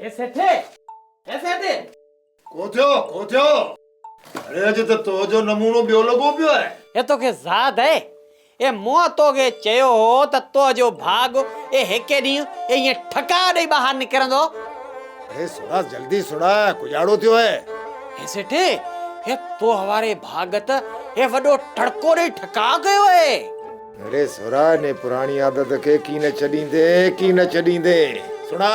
اي سيٺي! اي سيٺي! ڪو ٿيو؟ ڪو ٿيو؟ اڙي اڄ ته تو جو نمونو ٻيو لڳو پيو آهي. اي توکي زاد اهي؟ اي مون توکي چيو هو ته تو جو ڀاڳ اي هيڪي ڏينهن اي ائين ٺڪاء ڏئي ٻاهر نڪرندو. اڙي سوراس جلدي سڙاء ڪڄاڙو ٿيو اهي. اي سيٺي! اي تو واري ڀاڳ ته اي وڏو ٽڙڪو ڏئي ٺڪاء ڪيو اهي. ري سھرا انھي پراڻي عادت کي ڪين ڇڏيندين ڪين ڇڏيندين سھڻا.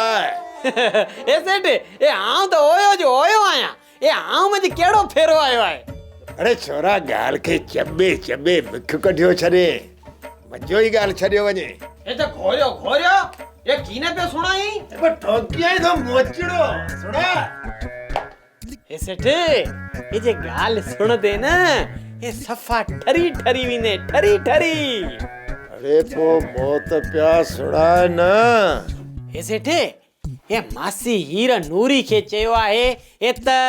اي سيٺ اي آئون ته اويو جو اويو آھيان اي آئون منجھ ڪھڙو ڦيرو آيو آھي. ري سھرا ڳالھ کي چٻي چٻي مک ڪڍيو ڇڏين منجھو ئي ڳالھ ڇڏيو وڃي. اي ته گھوريو گھوريو اي ڪين پيو سھڻائين. ٺوڪيائين ٿو موچڙو سھڻا. هي سيٺ هي جي ڳالهه سڻندي نه هي صفا ٺري ٺري ويندي ٺري ٺري. اڙي پو موت پيا سڻاء نه. هي سيٺ هي ماسي هير نوري کي چيو آهي هي ته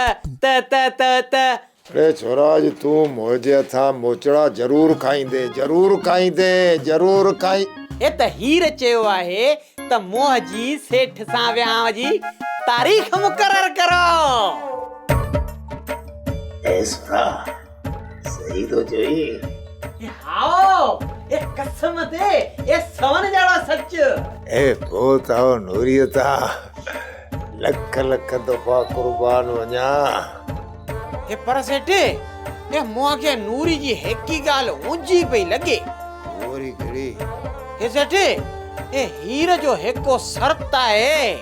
ته ته ته ته. اڙي ڇورا اڄ تون منهجي هٿان موچڙا ضرور کائيندي ضرور کائيندي ضرور کائين. هي ته هير چيو آهي ته موهه جي سيٺ سان ويهانء جي تاريخ مقرر ڪرو. اي سورا، صحيح ٿو چوين. هائو، اي قسم تي، اي سون جهڙو سچ. اي پوء ته نوريتا. لک لک دفعا قربان وڃان. هي پر سيٺ، هي منهن کي نوري جي هيڪي ڳالهه اونجهي پئي لڳي. نوري ڪهڙي؟ هي سيٺ، هي هير جو هيڪو سرت آهي.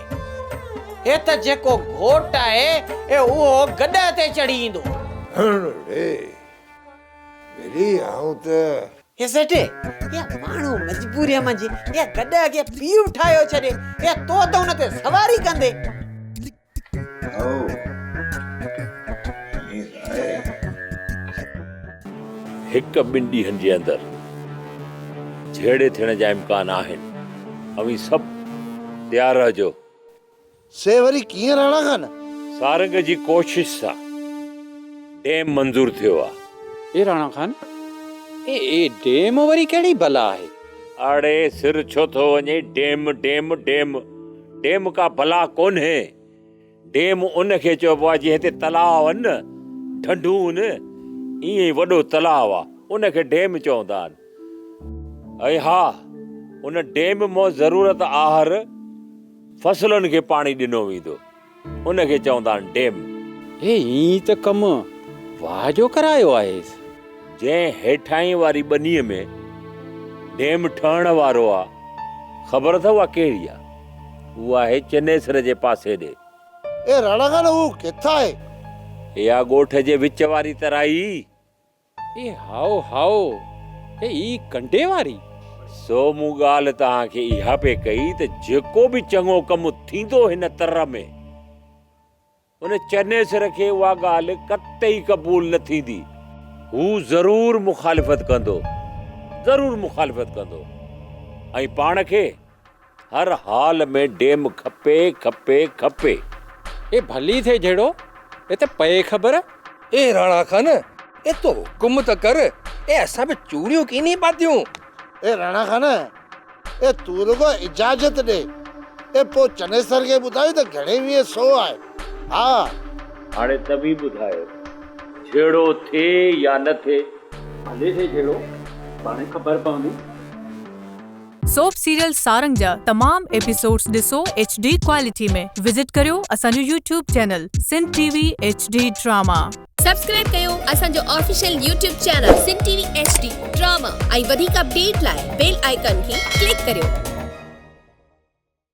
هي ته جيڪو گهوٽ آهي، هي اهو گڏهه تي چڙهي ايندو. هڻ ڙي، ڀلي آئون ته. اي سيٺ، اي ماڻهو مجبوريء منجهه اي گڏهه کي پيو ٺاهيو ڇڏي، اي تو ته ان تي سواري ڪندي. هائو، ائين ته آهي. هڪ ٻن ڏينهن جي اندر جهيڙي ٿيڻ جا امڪان آهن، اوهين سڀ تيار رهجو. سي وري ڪيئن راڻا خان؟ سارنگ جي ڪوشش سان ڊيم منظور ٿيو آ. اي راڻا خان اي اي ڊيم وري ڪهڙي بلا آهي؟ اڙي سر ڇو ٿو وڃي ڊيم ڊيم ڊيم ڊيم ڪا بلا ڪونهي ڊيم ان کي چئبو آ جنهن تي تلاء هن نه ڍنڍون هن ايئن ئي وڏو تلاء آ ان کي ڊيم چوندا آهن ۽ ها ان ڊيم مون ضرورت آهر فصلن کي پاڻي ڏنو ويندو، ان کي چوندا آهن ڊيم. هي ائين ته ڪم واهه جو ڪرايو آهيس. جنهن هيٺاهين واري ٻنيء ۾ ڊيم ٺهڻ وارو آ، خبر اٿئي اها ڪهڙي آ؟ اها آهي چنيسر جي پاسي ڏي. اي رڻ گن هو ڪٿ آهي؟ اها ڳوٺ جي وچ واري ترائي. اي هائو هائو! اي اي ڪنڊي واري! سو مون ڳالهه توهان کي اها پئي ڪئي ته جيڪو به چڱو ڪم ٿيندو هن تر ۾، ان چني سر کي اها ڳالهه قطعي قبول نه ٿيندي. هو ضرور مخالفت ڪندو، ضرور مخالفت ڪندو ۽ پاڻ کي هر حال ۾ ڊيم کپي کپي کپي. اي ڀلي ٿئي جهيڙو، اي ته پئي خبر. اي راڻا خان، اي تو حڪم ته ڪر، اي اسان به چوڙيون ڪيني پاتيون. اي راڻا خان، اي تون رڳو اجازت ڏي، اي پوء چنيسر کي ٻڌايون ته گهڻي ويهه سو آهي. ها! هاڻي توهين ٻڌايو، جهيڙو ٿئي يا نه ٿئي؟ ڀلي ٿئي جهيڙو، پاڻهي خبر پوندي. سوپ سيريل سارنگ جا تمام ايپيسوڊز ڏسو ايڇ ڊي ڪوالٽي ۾ وزٽ ڪريو اسان جو YouTube channel Sindh T V H D drama. Subscribe ڪيو اسان جو official YouTube channel Sindh T V H D drama ۽ وڌيڪ اپڊيٽ لاء بيل آئيڪان کي ڪلڪ ڪريو.